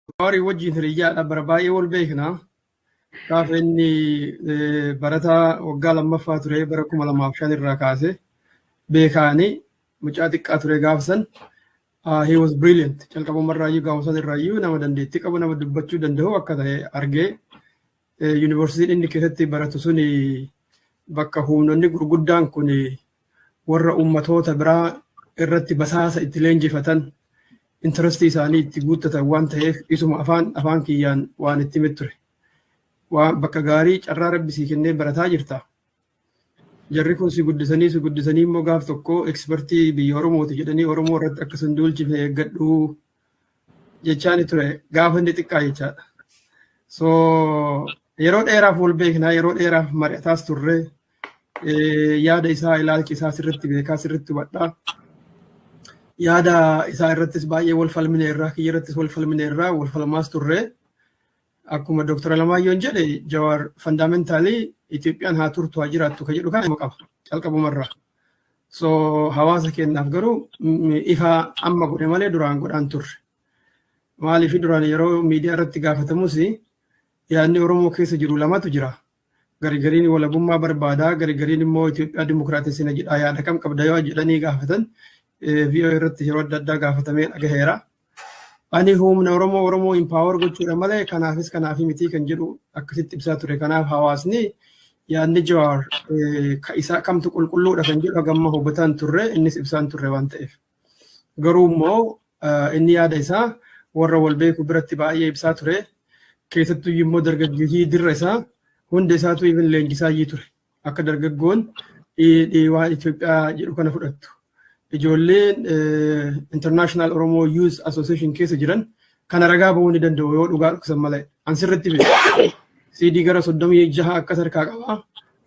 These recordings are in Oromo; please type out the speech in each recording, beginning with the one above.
Jawaarii wajjin hiriyyaadha bara baay'ee wal beekna. Gaafa inni eh, barataa waggaa lammaffaa ture bara kuma lamaaf shan irraa kaase beekaani mucaa xiqqaa ture gaafa san. Ah, he was brilliant. Calqabuma irraayyuu gaafa san irraayyuu nama dandeettii qabu nama dubbachuu danda'u akka ta'e argee Yuunivarsiitiin inni keessatti baratu sun bakka humnoonni gurguddaan kun warra uummatoota biraa irratti basaasa itti leenjifatan intarastii isaanii itti guuttatan waan ta'eef isuma afaan afaan kiyyaan waan itti himee ture. Waan bakka gaarii carraa rabbi sii kennee barataa jirta. Jarri kun si guddisanii si guddisanii immoo gaaf tokko ekspertii biyya Oromooti jedhanii Oromoo irratti akka sin duulchifne eeggadhu jechaani ture gaafa inni xiqqaa jechaadha. So yeroo dheeraaf wal beeknaa yeroo dheeraaf mari'ataas turre yaada isaa ilaalchi isaa sirriitti beekaa sirriitti hubadhaa. Yaada isaa irrattis baay'ee wal falmine irraa kiyya irrattis wal falmine irraa wal falmaas turre. Akkuma Dr. Alamaayyoon jedhe Jawaar fandamentaalii Itoophiyaan haa turtu haa jiraattu kan jedhu kana qaba calqabumarraa. So hawaasa keenyaaf garuu ifa amma godhe malee duraan godhaan turre. Maaliif duraan yeroo miidiyaa irratti gaafatamus yaadni Oromoo keessa jiru lamatu jira. garigariin walabummaa barbaadaa garigariin immoo Itoophiyaa dimokiraatessina jedhaa yaada kam qabda yoo jedhanii gaafatan VOA irratti yeroo adda addaa gaafatamee dhagaheera. Ani humna Oromoo Oromoo impaawar gochuudha malee kanaafis kanaafii mitii kan jedhu akkasitti ibsaa ture. Kanaaf hawaasni yaadni Jawaar ka isaa kamtu qulqulluudha kan jedhu hagamma hubataan turre innis ibsaan turre waan ta'eef. Garuu immoo inni yaada isaa warra wal beeku biratti baay'ee ibsaa ture. Keessattuu immoo dargaggeeyyii dirra isaa hunda isaatu even leenjisaa iyyii ture. Akka dargaggoon waan Itoophiyaa jedhu kana fudhattu. Ijoolleen International Oromo Youth Association keessa jiran kana ragaa bahuu ni danda'u yoo dhugaa dhoksan malee. An sirriitti beeku. CD gara soddomii jaha akkas harkaa qabaa.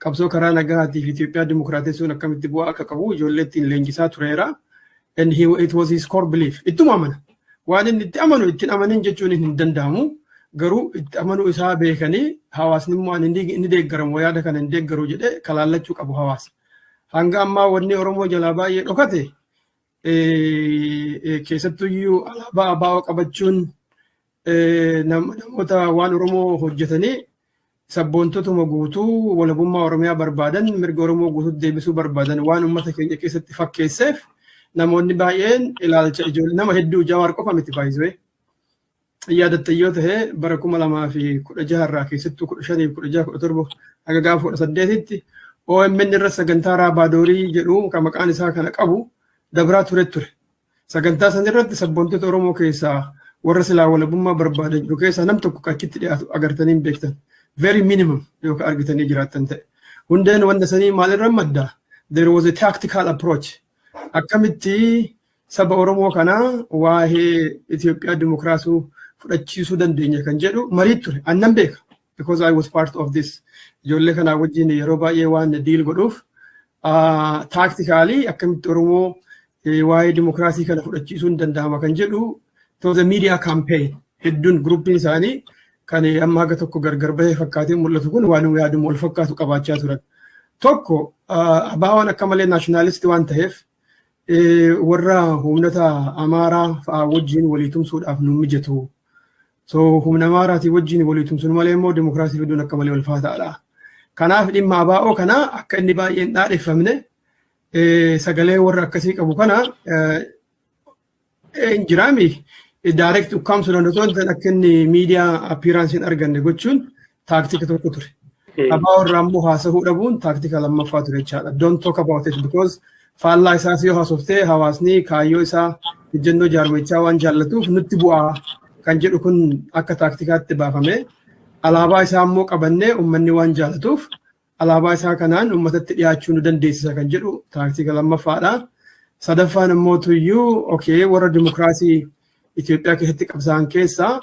Qabsoo karaa nagaatiif Itoophiyaa dimokiraatessuun akkamitti bu'aa akka qabu ijoollee ittiin leenjisaa tureera. And he, it was his core belief. Ittuma amana. Waan inni itti amanu ittiin amanin jechuun hin danda'amu. Garuu itti amanuu isaa beekanii hawaasni immoo ani ni ni deeggaramu yaada kana hin deeggaru jedhee kalaallachuu qabu hawaasa. Hanga ammaa wanni Oromoo jalaa baay'ee dhokate keessattuyyuu alaabaa abaa'oo qabachuun namoota waan Oromoo hojjetanii sabboontotuma guutuu walabummaa Oromiyaa barbaadan mirga Oromoo guutuu deebisuu barbaadan waan uummata keenya keessatti fakkeesseef namoonni baay'een ilaalcha ijoollee nama hedduu jawaar qofa miti baay'isee yaadatte yoo ta'e bara kuma lamaa fi kudha jaha irraa keessattuu kudha shanii fi kudha jaha kudha torba haga gaafa kudha saddeetitti OMN irra sagantaa raabaadorii jedhu kan maqaan isaa kana qabu dabraa ture ture. Sagantaa san irratti sabboontoota Oromoo keessaa warra silaa walabummaa barbaadan jiru keessaa nam tokko kan achitti dhiyaatu agartanii hin beektan. Very minimum yookaan argitanii jiraattan ta'e. Hundeen wanta sanii maalirra madda? There was a tactical approach. Akkamitti saba Oromoo kanaa waa'ee Itoophiyaa dimokiraasuu fudhachiisuu dandeenya kan jedhu marii ture. Annan beeka. Because I was part of this. Ijoollee kanaa wajjin yeroo baay'ee waan diil godhuuf taaktikaalii akkamitti Oromoo waa'ee dimokiraasii kana fudhachiisuun danda'ama kan jedhu it was a media campaign hedduun guruppiin isaanii kan amma haga tokko gargar bahee fakkaatee mul'atu kun waan yaadamu wal fakkaatu qabaachaa turan. Tokko abaawaan akka malee naashinaalisti waan ta'eef warra humnata amaaraa fa'aa wajjin walii tumsuudhaaf nu mijatu. So humna amaaraatii wajjin walii tumsuun malee immoo dimokiraasii fiduun akka malee ulfaataadha. Kanaaf dhimma abaa'oo kana akka inni baay'een dhaadheffamne sagalee warra akkasii qabu kana Hin jiraami. Direct ukkaamsuudhaan osoo hin ta'in akka inni miidiyaa appearance hin arganne gochuun taaktika tokko ture. Abaa warraa immoo haasahuu dhabuun taaktika lammaffaa ture jechaadha. Don't talk about it because faallaa isaas yoo haasoftee hawaasni kaayyoo isaa ejjennoo jaarmichaa waan jaallatuuf nutti bu'aa kan jedhu kun akka taaktikaatti baafame. Alaabaa isaa immoo qabannee uummanni waan jaallatuuf Alaabaa isaa kanaan uummatatti dhiyaachuu nu dandeessisa kan jedhu taaktika lammaffaadha. Sadaffaan immoo tuyyuu okay warra dimokiraasii Itoophiyaa keessatti qabsaa'an keessaa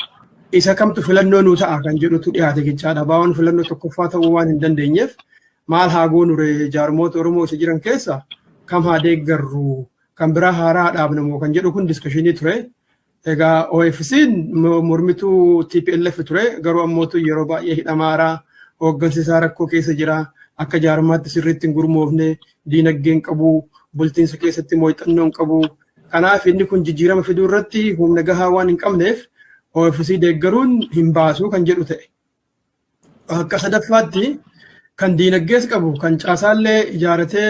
isa kamtu filannoo nuu ta'a kan jedhutu dhiyaate jechaadha. Baawwan filannoo tokkoffaa ta'uu waan hin dandeenyeef maal haa goonure jaarmoota Oromoo isa jiran keessa kam haa deeggarru kan biraa haaraa dhaabnamoo kan jedhu kun diskashinii ture. Egaa OFC'n mormituu TPLF ture garuu ammootu yeroo baay'ee hidhamaara hooggansi isaa rakkoo keessa jira akka jaarmaatti sirriitti hin gurmoofne diinagdeen qabu bultiinsa keessatti mooyxannoon qabu kanaaf inni kun jijjiirama fiduu irratti humna gahaa waan hin qabneef OFC deeggaruun hin baasu kan jedhu ta'e. Akka sadaffaatti kan diinaggees qabu kan caasaallee ijaaratee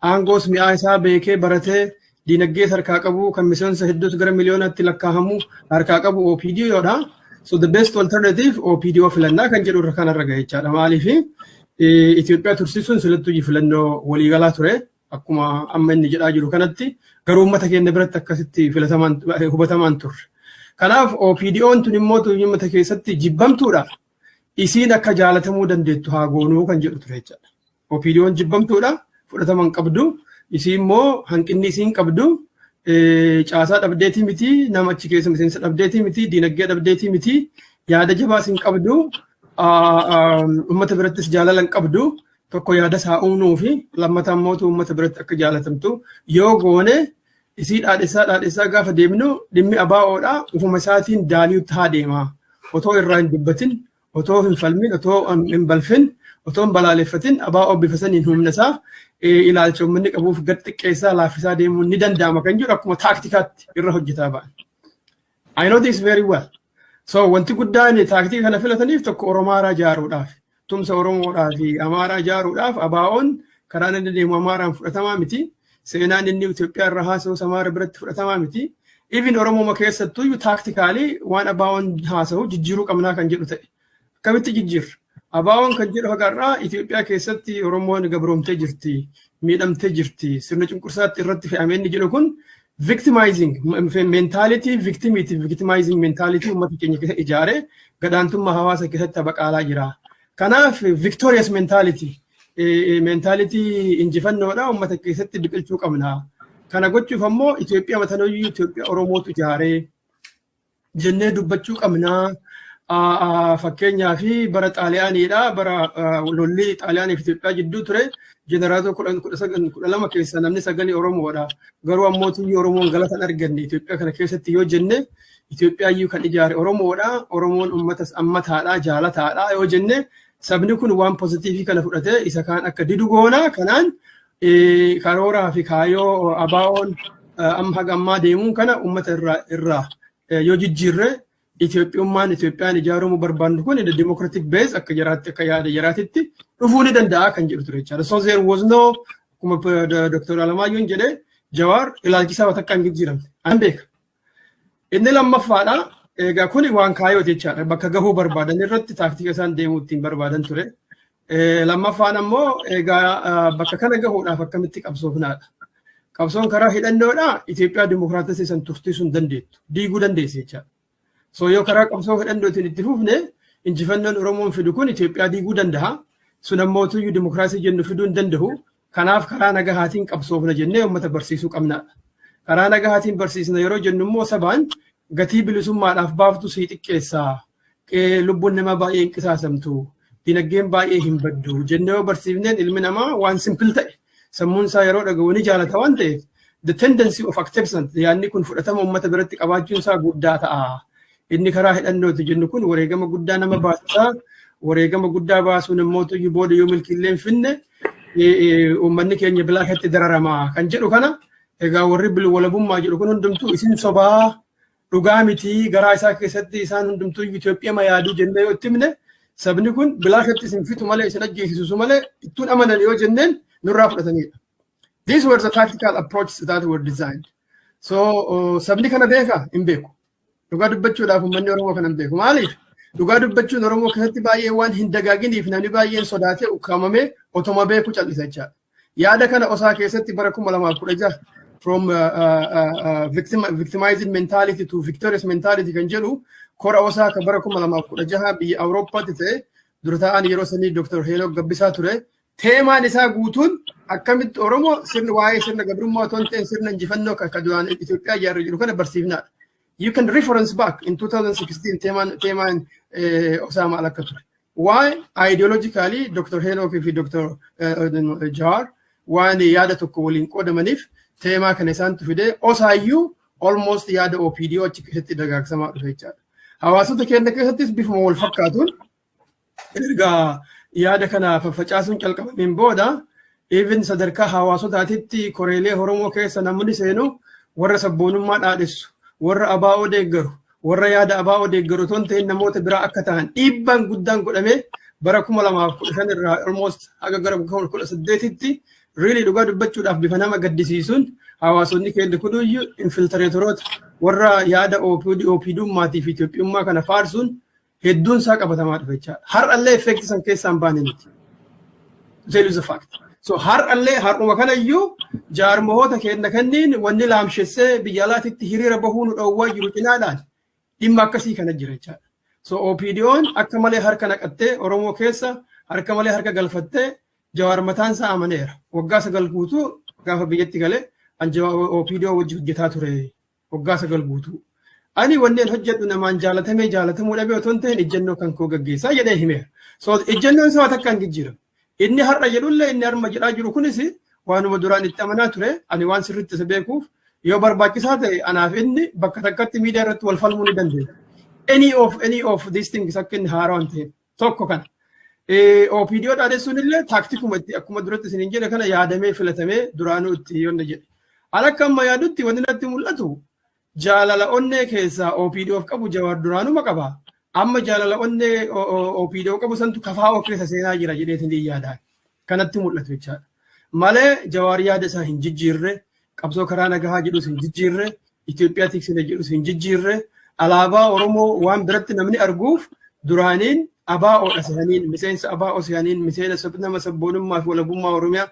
aangoos mi'aa isaa beekee baratee diinaggees harkaa qabu kan miseensa hedduus gara miliyoonaatti lakkaa'amu harkaa qabu OPDO dha. So the best alternative OPDO filannaa kan jedhu irra kanarra gahechaadha. Maaliif Itoophiyaa tursiisuun silattuu filannoo waliigalaa ture. Akkuma amma inni jedhaa jiru kanatti garuu uummata keenya biratti akkasitti filatamaan hubatamaan turre. Kanaaf OPDO'n tun immoo uummata keessatti jibbamtuudha. Isiin akka jaalatamuu dandeettu haa goonuu kan jedhu ture jechaadha. OPDO'n jibbamtuudha fudhatama hin qabdu. Isii immoo hanqinni isiin qabdu caasaa dhabdeetii miti nama achi keessa miseensa dhabdeetii miti diinagdee dhabdeetii miti yaada jabaas hin qabdu uummata birattis jaalala hin qabdu tokko yaada isaa uumnuu fi lammata immoo uummata biratti akka jaalatamtu yoo goone isii dhaadhessaa dhaadhessaa gaafa deemnu dhimmi abaa'oodha ufuma isaatiin daali'u taa deema otoo irraa hin dubbatin otoo hin falmin otoo hin balfin otoo hin balaaleffatin abaa'oo bifa saniin humna isaa ilaalcha uummanni qabuuf gad xiqqeessaa laaffisaa deemuun ni danda'ama kan jedhu akkuma taaktikaatti irra hojjetaa ba'an. I know this very well. So wanti guddaan taaktii kana filataniif tokko Oromaaraa ijaaruudhaaf tumsa Oromoodhaa fi Amaaraa ijaaruudhaaf ABOn karaa inni deemu Amaaraan fudhatamaa miti. Seenaan inni Itoophiyaa irra haasa'us Amaara biratti fudhatamaa miti. Even Oromooma keessattuu taaktikaalii waan ABOn haasa'u jijjiiruu qabnaa kan jedhu ta'e. Akkamitti jijjiirra? Abaawoon kan jedhu haga har'aa Itoophiyaa keessatti Oromoon gabroomtee jirti, miidhamtee jirti, sirna cunqursaatti irratti fe'ame inni jedhu kun victimizing mentality victimity victimizing mentality uummata keenya keessa ijaaree gadaantummaa hawaasa keessatti baqaalaa jira. Kanaaf victorious mentality mentality injifannoodha uummata keessatti biqilchuu qabna. Kana gochuuf ammoo Itoophiyaa matanoyyuu Itoophiyaa Oromootu ijaaree jennee dubbachuu qabnaa. Fakkeenyaa fi bara Xaaliyaaniidha. Bara lolli Xaaliyaanii fi Itoophiyaa jidduu ture jeneraalota kudhan kudha sagal kudha lama keessaa namni sagalii Oromoodha. Garuu ammoo tuyyii Oromoon galata hin arganne Itoophiyaa kana keessatti yoo jenne Itoophiyaa iyyuu kan ijaare Oromoodha. Oromoon uummatas ammataadha jaalataadha yoo jenne sabni kun waan pozitiivii kana fudhatee isa kaan akka didu goona kanaan karooraa fi kaayoo ABOn amma haga ammaa deemuun kana uummata irraa irraa yoo jijjiirre Itoophiyummaan Itoophiyaan ijaaramuu barbaannu kun the democratic base akka jaraatti akka yaada jaraatitti dhufuu ni danda'a kan jedhu ture jechaadha. So there was no akkuma Dr. Alamaayyoon jedhe Jawaar ilaalchisaa waan takka hin jijjiiramne. An beeka. Inni lammaffaadha. Egaa kuni waan kaayoo jechaadha. Bakka gahuu barbaadan irratti taaktika isaan deemuu ittiin barbaadan ture. Lammaffaan ammoo egaa bakka kana gahuudhaaf akkamitti qabsoofnaadha. Qabsoon karaa hidhannoodha Itoophiyaa dimokiraatessii san tursiisuu hin dandeettu. Diiguu dandeessi jechaadha. So yoo karaa qabsoo hidhannootiin itti fufne injifannoon Oromoon fidu kun Itoophiyaa diiguu danda'a. Sun ammoo utuu dimokiraasii jennu fiduu hin danda'u. Kanaaf karaa nagahaatiin qabsoofna jennee uummata barsiisuu qabna. Karaa nagahaatiin barsiisna yeroo jennu immoo sabaan gatii bilisummaadhaaf baaftu sii xiqqeessa. Lubbuun namaa baay'ee hin qisaasamtu. Dinagdeen baay'ee hin baddu. Jennee yoo barsiifneen ilmi namaa waan simpil ta'e sammuun isaa yeroo dhaga'u ni jaalata waan ta'eef the tendency of acceptance yaadni kun fudhatama uummata biratti qabaachuun isaa guddaa ta'a. Inni karaa hidhannooti jennu kun wareegama guddaa nama baasisa. Wareegama guddaa baasuun immoo tuyyu booda yoo milkiillee hin finne uummanni keenya bilaa keessatti dararama kan jedhu kana egaa warri bilwalabummaa jedhu kun hundumtuu isin sobaa dhugaa miti garaa isaa keessatti isaan hundumtuu Itoophiyaa ma yaaduu jennee yoo itti himne sabni kun bilaa keessatti isin fitu malee isin ajjeesisu malee ittuun amanan yoo jenneen nurraa fudhatanidha. These were the tactical approaches that were designed. So sabni kana beeka hin beeku. Dhugaa dubbachuudhaaf uummanni Oromoo kana hin beeku. Maaliif? Dhugaa dubbachuun Oromoo keessatti baay'ee waan hin dagaaginiif namni baay'een sodaatee ukkaamamee otoma beeku cal'isa jechaadha. Yaada kana osaa keessatti bara kuma lamaa kudha jaha from uh, uh, uh, victim, victimizing mentality to victorious mentality kan jedhu kora osaa kan bara kuma lamaa kudha jaha biyya Awurooppaatti ta'e dura taa'aan yeroo sanii Dr. Heenok Gabbisaa ture Teemaan isaa guutuun akkamitti Oromoo sirni waa'ee sirna gabrummaa otoo hin ta'in sirna injifannoo kan akka duraan Itoophiyaa ijaarra jiru kana barsiifnaadha. You can reference back in 2016 teemaan teemaan Osaamaa akka ture. Waa'ee ideologically Dr. Henook fi Dr. Jawaar waan yaada tokko waliin qoodamaniif teemaa kana isaantu fidee osaayyuu almost yaada OPDO achi keessatti dagaagsamaa dhufe jechaadha. Hawaasota keenya keessattis bifuma wal fakkaatuun erga yaada kana faffacaasuun calqabameen booda even sadarkaa hawaasotaatitti koreelee Oromoo keessa namni seenu warra sabboonummaa dhaadhessu, warra abaa'oo deeggaru, warra yaada abaa'oo deeggaru otoo hin ta'in namoota biraa akka ta'an dhiibbaan guddaan godhamee bara 2015 irraa almost haga gara 2018tti riilii dhugaa dubbachuudhaaf bifa nama gaddisiisuun hawaasonni keenya kunuyyuu infiltireetoroota warra yaada OPDummaatii fi Itoophiyummaa kana faarsuun hedduun isaa qabatamaa dhufe jechaadha. Har'allee effeekti san keessaan baane nuti. Tell you the fact. So har'allee har'uma kanayyuu jaarmahoota kenna kenniin wanni laamshessee biyya alaatitti hiriira bahuu nu dhoowwaa jiru cinaadhaan dhimma akkasii kana jira jechaadha. So OPDO'n akka malee harka naqattee Oromoo keessa harka malee harka galfattee jawaar mataan isaa amaneera. Waggaa sagal guutuu gaafa biyyatti galee an jawaar OPDO wajji hojjetaa ture Waggaa sagal guutuu. Ani wanneen hojjedhu namaan jaalatamee jaalatamuu dhabee otoo hin ta'in ejjennoo kan koo gaggeessaa jedhee himeera. So ejjennoon isaa takka hin jijjiiramne. Inni har'a jedhullee inni harma jedhaa jiru kunis waanuma duraan itti amanaa ture ani waan sirriitti isa beekuuf yoo barbaachisaa ta'e anaaf inni bakka takkatti miidiyaa irratti wal falmuu ni dandeenya. Any of any of these things akka inni haaraa waan ta'eef. Tokko kana. OPDO dhaadessuun illee taaktikuma itti akkuma duratti isin hin jedhe kana yaadamee filatamee duraanuu itti yonna jedhe. Ala akka amma yaadutti wanti natti mul'atu jaalala onnee keessaa OPDOf qabu jawaar duraanuma qaba. Amma jaalala onnee OPDO qabu santu kafaa of keessa seenaa jira jedhee isin yaadaan. kanatti mul'atu jechaadha. Malee Jawaar yaada isaa hin jijjiirre, qabsoo karaa nagahaa jedhus hin jijjiirre, Itoophiyaa tiksina jedhus hin jijjiirre, alaabaa Oromoo waan biratti namni arguuf duraaniin abaa'oodha sehaniin, miseensa abaa'oo sehaniin, miseensa nama sabboonummaa fi walabummaa Oromiyaa,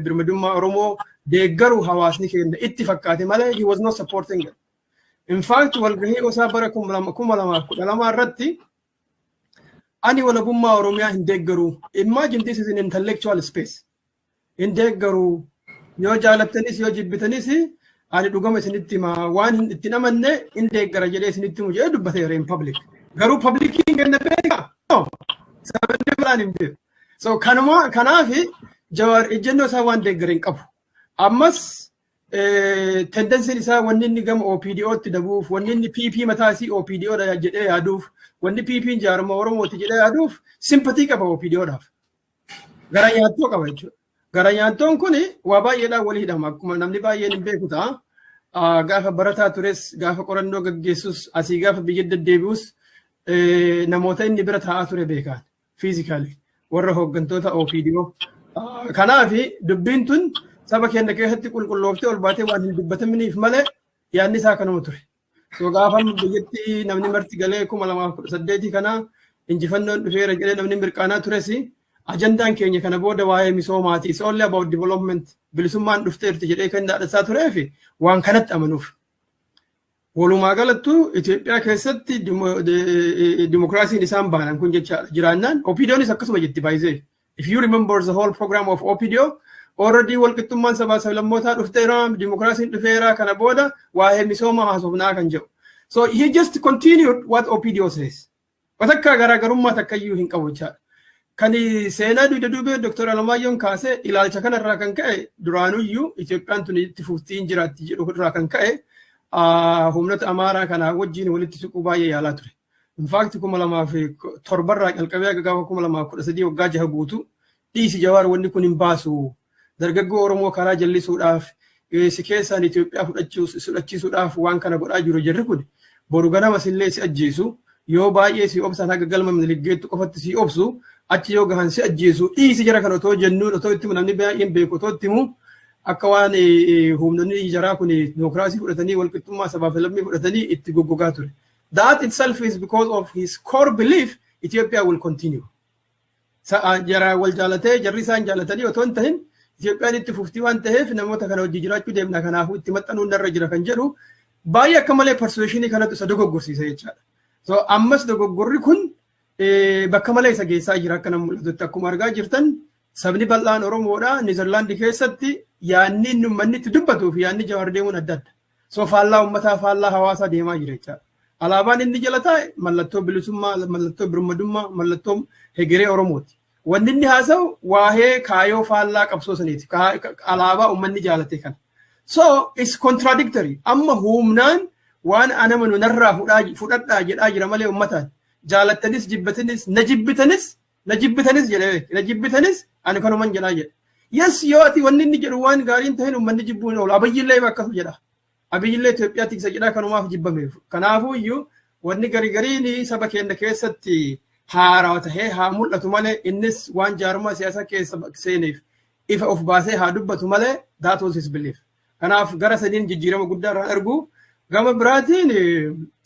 birmadummaa Oromoo deeggaru hawaasni keenya itti fakkaate malee he was not supporting it. In fact, walgahii osaa bara kuma lamaa kudha lamaa irratti Ani walabummaa Oromiyaa hin deeggaru. Imagine this is an intellectual space. Hin deeggaru. Yoo jaalattanis yoo jibbitanis ani dhugama isinitti hima waan hin ittiin amanne hin deeggara jedhee isinitti himu jedhee dubbateera in public. Garuu publikiin kenna beeka. No. Sabni biraan hin beeku. So kanuma kanaaf Jawaar ejjennoo isaa waan deeggare hin qabu. Ammas tendensiin isaa wanni inni gama OPDOtti dabuuf, wanni inni PP mataa isii OPDO dha jedhee yaaduuf, wanni PP jaarma Oromooti jedhee yaaduuf simpatii qaba OPDOdhaaf. Gara nyaattoo qaba jechuudha. Gara nyaattoon kun waa baay'eedhaan walii hidhama. Akkuma namni baay'een hin beeku ta'a. Ah, Gaafa barataa tures, gaafa qorannoo gaggeessus, asii gaafa biyya deddeebi'us eh, namoota inni bira taa'aa ture beekaan. physically warra hooggantoota OPDO. Kanaaf dubbiin tun saba keenya keessatti qulqullooftee ol baatee waan hin dubbataminiif malee yaadni isaa kanuma ture. So gaafa biyyatti namni marti galee kuma lamaaf kudha saddeetii kana injifannoon dhufeera jedhee namni mirqaanaa tures ajandaan keenya kana booda waa'ee misoomaati. It's only about development bilisummaan dhufteerti jedhee kan dhaadhasaa turee fi waan kanatti amanuuf. Walumaa galattu Itoophiyaa keessatti dimokiraasiin isaan baanan kun jecha jiraannaan OPDOnis akkasuma jetti baay'isee. If you remember the whole program of OPDO, already walqixxummaan sabaa sablammootaa dhufteera, dimokiraasiin dhufeera kana booda waa'ee misoomaa haasofnaa kan jedhu. So he just continued what OPDO says. Watakkaa garaagarummaa takkayyuu hin qabu jechaadha. Kan seenaa duyda duubee Dr. Alamaayyoon kaasee ilaalcha kanarraa kan ka'e duraanuyyuu Itoophiyaan tuni itti fuftee hin jiraatti jedhu irraa kan ka'e humnoota Amaaraa kanaa wajjin walitti siquu baay'ee yaalaa ture. Infaakti kuma lamaa fi torbarraa calqabee gaafa kuma lamaa kudha sadii waggaa jaha guutuu dhiisi jawaar wanni kun hin baasu Dargaggoo Oromoo karaa jallisuudhaaf si keessaan Itoophiyaa fudhachiisuudhaaf waan kana godhaa jiru jarri kun boru ganama sillee si ajjeesu yoo baay'ee si obsan haga galma Minilik geettu qofatti si obsu achi yoo gahan si ajjeesu dhiisi jara kan otoo jennuun otoo itti namni baay'een beeku otoo itti himu akka waan humnoonni jaraa kun dimokiraasii fudhatanii walqixxummaa sabaa fi lammii fudhatanii itti goggogaa ture. That itself is because of his core belief Ethiopia will continue. jaraa wal jaalatee jarri isaan jaalatanii otoo hin tahin Itoophiyaan itti fuftii waan taheef namoota kana hojii jiraachuu deemna kanaafuu itti maxxanuun narra jira kan jedhu baay'ee akka malee parsuweeshinii kanatu isa dogoggorsiisa jechaadha. So ammas dogoggorri kun bakka malee isa geessaa jira akka nama mul'atutti akkuma argaa jirtan sabni bal'aan Oromoodha Niizerlaandi keessatti yaanni inni uummanni itti dubbatuu fi yaanni jawaar deemuun adda adda. So faallaa ummataa faallaa hawaasaa deemaa jira jechaadha. Alaabaan inni jala taa'e mallattoo bilisummaa, mallattoo birmadummaa, mallattoo hegeree Oromooti. Wanni inni haasa'u waa'ee kaayoo faallaa qabsoo saniiti. Ka- ka- Alaabaa ummanni jaalate kana. So is contradictory. Amma humnaan waan anama nunarraa fudhaa- fudhadhaa jedhaa jira malee ummataan. Jaalattanis jibbatanis na jibbitanis na jibbitanis jedhe beeki na jibbitanis ani kanuman jedhaa jedhe yes yoo ati wanni inni jedhu waan gaariin ta'een uummanni jibbuu hin oolu abiyyillee ima akkas jedha abiyyillee Itoophiyaa tiksa jedhaa kanumaaf jibbameef kanaafuu iyyuu wanni gari gariin saba keenya keessatti haarawa tahee haa mul'atu malee innis waan jaarmaa siyaasaa keessa seeneef ifa of baasee haa dubbatu malee that was his belief. Kanaaf gara saniin jijjiirama guddaa irraa argu. Gama biraatiin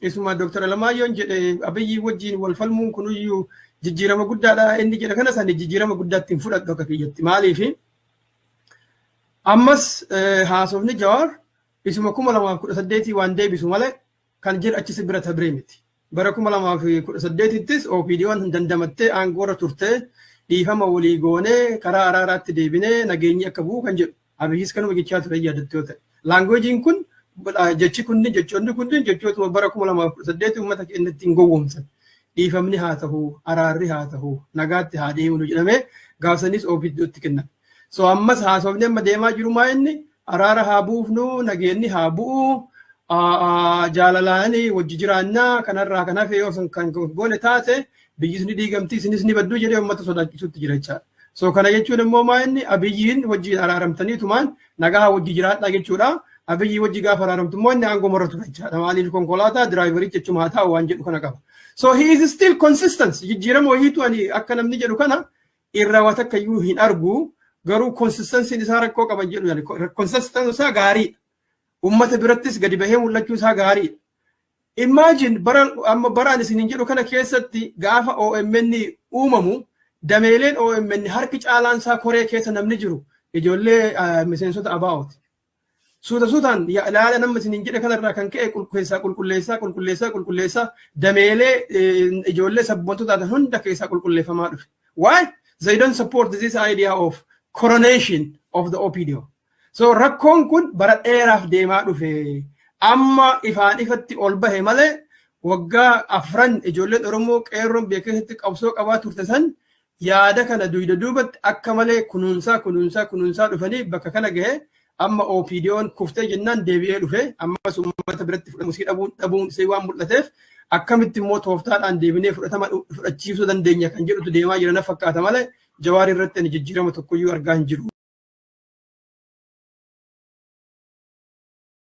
isuma Dooktar Alamaayyoon jedhe Abiyyii wajjin wal falmuun kunuyyuu jijjiirama guddaadha inni jedhe kana sani jijjiirama guddaatti hin fudhadhu akka kiyyatti. Maaliif? Ammas haasofni Jawaar isuma kuma lamaaf kudha saddeetii waan deebisu malee kan jedhu achi si bira tabree miti. Bara 2018ttis OPDOn dandamattee aangoorra turtee dhiifama walii goonee karaa araaraatti deebinee nageenyi akka bu'u kan jedhu Abiyyis kanuma jechaa ture yaadatte yoo ta'e. Laangweejiin kun jechi kunni jechoonni kunni jechootuma bara 2018 uummata keenya ittiin gowwoomsan. Dhiifamni haa ta'u, araarri haa ta'u, nagaatti haa deemnu jedhamee gaafsanis OPDOtti kenname. So ammas haasofni amma deemaa jiru maa inni Araara haa buufnu, nageenni haa bu'u, jaalalaan wajji jiraannaa kanarraa kan hafe yoo sun kan goone taate biyyis ni diigamti isinis ni baddu jedhee uummata sodaachisuutti jira jechaadha. So kana jechuun immoo maa inni abiyyiin wajji araaramtanii tumaan nagaa wajji jiraadhaa jechuudha. Abiyyii wajji gaafa araaramtu immoo inni aangoo marratu jechaadha. Maaliif konkolaataa diraayiverichi jechuma haa ta'u waan jedhu kana qaba. So he is still consistent. Jijjiirama wayiitu ani akka namni jedhu kana irraa waa takka iyyuu hin argu garuu konsistansiin isaa rakkoo qaban jedhu yaani konsistansiin isaa gaariidha. Uummata birattis gadi bahee mul'achuu isaa gaariidha. Imagine bara amma baraan isin hin jedhu kana keessatti gaafa OMN uumamu dameeleen OMN harki caalaan isaa koree keessa namni jiru ijoollee miseensota ABOti. Suuta suutaan laala nama isiniin jedhe kanarraa kan ka'e keessaa qulqulleessaa qulqulleessaa qulqulleessaa dameelee ijoollee sabboontuu taatan hunda keessaa qulqulleeffamaa dhufe. Why? They don't support this idea of coronation of the OPDO. So rakkoon kun bara dheeraaf deemaa dhufe. Amma ifaan ifatti ol bahe malee waggaa afran ijoolleen Oromoo qeerroon biyya keessatti qabsoo qabaa turte san yaada kana duyda duubatti akka malee kunuunsaa kunuunsaa kunuunsaa dhufanii bakka kana gahe amma OPDOn kuftee jennaan deebi'ee dhufe ammas uummata biratti fudhatamu sii dhabuun dhabuun isee waan mul'ateef akkamitti immoo tooftaadhaan deebinee fudhatama fudhachiisuu dandeenya kan jedhutu deemaa jira na fakkaata malee jawaarii irratti ani jijjiirama tokkoyyuu argaa hin jiru.